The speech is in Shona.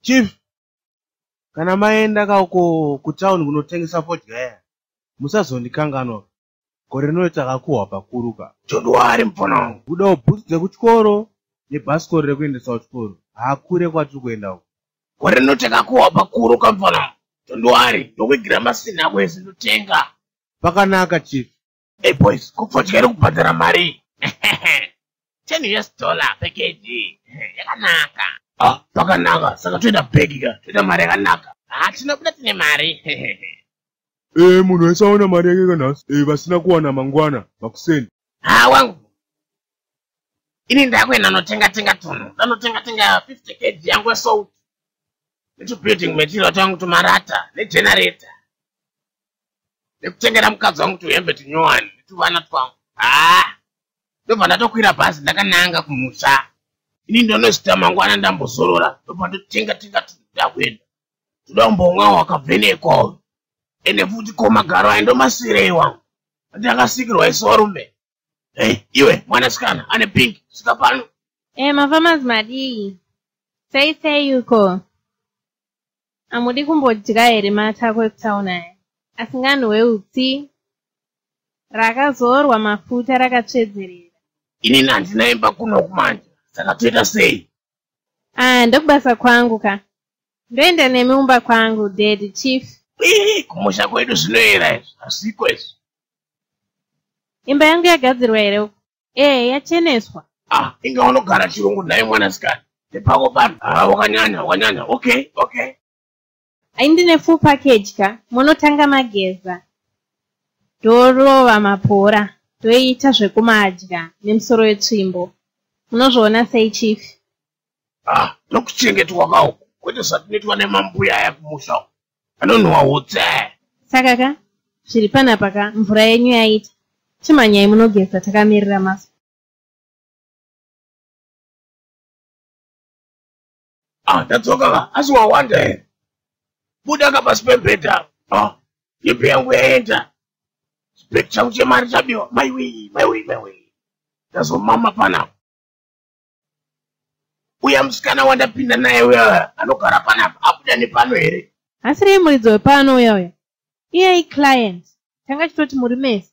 chief kana maenda ka uko kutown kunotengesa fodya ya musazondikanganwa gore rino takakuhwa pakuru ka chondwari mupfana wangu kudawo bhutsu dzekuchikoro nebhasikoro rekuendesa kuchikoro hakure kwatiri kuenda uko gore rino takakuhwa pakuru ka mupfana wangu chondwari ndokuigira masina ako ese ndotenga pakanaka chief Hey boys, kufodya iri kubhadhara mari. 10 US dollar per kg. Yakanaka. Ah, pakanaka. Saka toita bag ka. Toita mari yakanaka. Ah, tinobuda tine mari. Eh, munhu wese aona mari yake kanhasi. Eh, vasina kuwana mangwana, makuseni. Ah, wangu. Ini ndakuenda notenga tenga tunhu. Ndanotenga tenga 50 kg yangu salt. Netubuilding material tangu tumarata, negenerator. nekutengera mukadzi wangu tuhembe tunyowani netuvana twangu haa ndobva ndatokwira bhazi ndakananga kumusha ini ndonozita mangwana ndambozorora ndobva ndotenga tenga tuda kuenda toda kumbomwa wakavhenekwa uyu ende futi ko magaro ayi ndomasirei wangu andakasikirwa isorume Hey, iwe mwanasikana ane pink svika pano e eh, mafamas madii sei sei uko hamudi kumbodya here matako ekutaun aya asinganhuwe utsi rakazorwa mafuta rakatsvedzerera inini handina imba kuno kumanje saka toita sei Ah, ndokubasa kwangu ka. Ndoenda nemi umba kwangu, daddy chief. Ii, kumusha kwedu zvinoera izvi, hazviko izvi. Imba yangu yagadzirwa here uko? Eh, yacheneswa. Ah, inga unogara chirungu naye mwanasikana. Nepako pano. Ah, wakanyanya, wakanyanya. Okay, okay. Ai ndine full package ka munotanga mageza ndorova mapora ndoita zvekumadya nemusoro wetsvimbo munozviona sei chief ah ndokuchengetwa ka uku kwete zvatinoitwa nemambuya aya kumusha uku anonhuwa utse saka ka zviri panapa ka mvura yenyu yaita chimhanyai munogeza takamirira masu Ah, tadzoka ka asi wawanda here buda ka pasi pembhedha ah, yepe yangu yaenda chibheki changu chemari chabiwa maiwii maiwii maiwii ndazomama panapa uya musikana wandapinda naye uya anogara panapa abuda nepano here asi rei muridzi wepano uya uya iyai client tanga chitoti muri mese